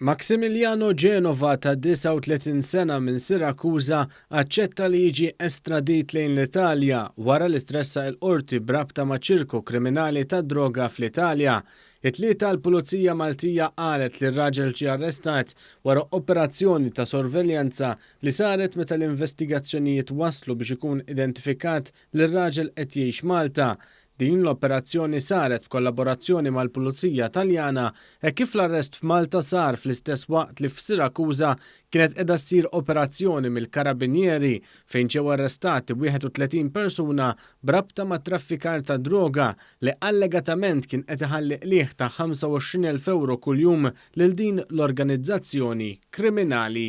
Maximiliano Genova ta' 39 sena minn Sirakuża aċċetta li jiġi estradit lejn l-Italja wara li tressaq il-Qorti b'rabta ma' ċirku kriminali tad-droga fl-Italja. It-Tlieta l-Pulizija Maltija qalet li r-raġel ġie arrestat wara operazzjoni ta' sorveljanza li saret meta l-investigazzjonijiet wasslu biex ikun identifikat li r-raġel qed jgħix Malta. Din l-operazzjoni saret b'kollaborazzjoni mal-Pulizija Taljana hekk kif l-arrest f'Malta sar fl-istess waqt li f'Sirakuża kienet qiegħda ssir operazzjoni mill-Karabinieri fejn ġew arrestati 31 persuna b'rabta ma' traffikar ta' droga li allegatament kien qed iħalli qligħ ta' 25,000 ewro kuljum lil din l-organizzazzjoni kriminali.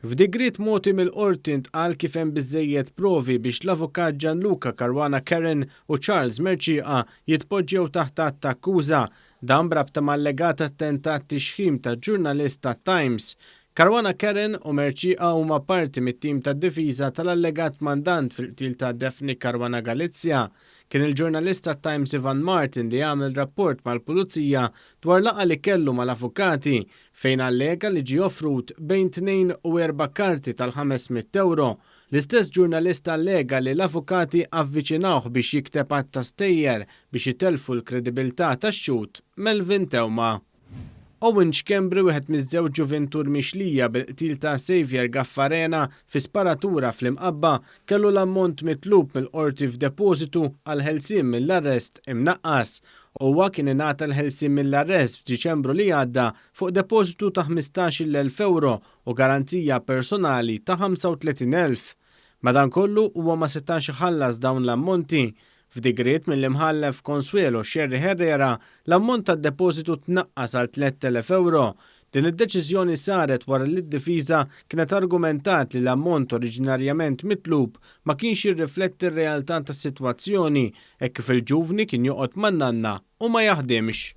F'digriet mogħti mill-Qorti ntqal kif hemm biżżejjed provi biex l-Avukat Gianluca Caruana Kerren u Charles Mercieca jitpoġġew taħt att ta' akkuża, dan b'rabta ma' allegat attentat tixħim ta' ġurnalist tat-Times. Caruana Kerren u Mercieca huma parti mit-tim tad-difiża tal-allegat mandant fil-qtil ta' Daphne Caruana Galizia. Kien il-ġurnalist tat-Times Ivan Martin li għamel rapport mal-Pulizija dwar laqgħa li kellu mal-avukati fejn allega li ġie offrut bejn tnejn u erba' karti tal-ħames mitt ewro, l-istess ġurnalist allega li l-avukati avviċinawh biex jikteb għadd ta' stejjer biex itellfu l-kredibilità tax-xhud Melvin Theuma. Owen Schembri wieħed miż-żewġ ġuvintur mixlija bil-qtil ta' Saviour Gaffarena fi sparatura fl-Imqabba kellu l-ammont mitlub mill-Qorti f'depożitu għall-ħelsien mill-arrest imnaqqas Huwa kien ingħata l-ħelsien mill-arrest f'Diċembru li għadda fuq depożitu ta' ħmistax-il elf ewro u garanzija personali ta' ħamsa u tletin elf. Madankollu, huwa ma setax iħallas dawn l-ammonti. F'digriet mill-Imħallef Consuelo Scerri Herrera, l-ammont tad-depożitu tnaqqas għal tlett elef ewro, Din id-deċiżjoni saret wara li d-difiża kienet argumentat li l-ammont oriġinarjament mitlub ma kienx jirrifletti r-realtà tas-sitwazzjoni hekk kif il-ġuvni kien joqgħod man-nanna u ma jaħdimx.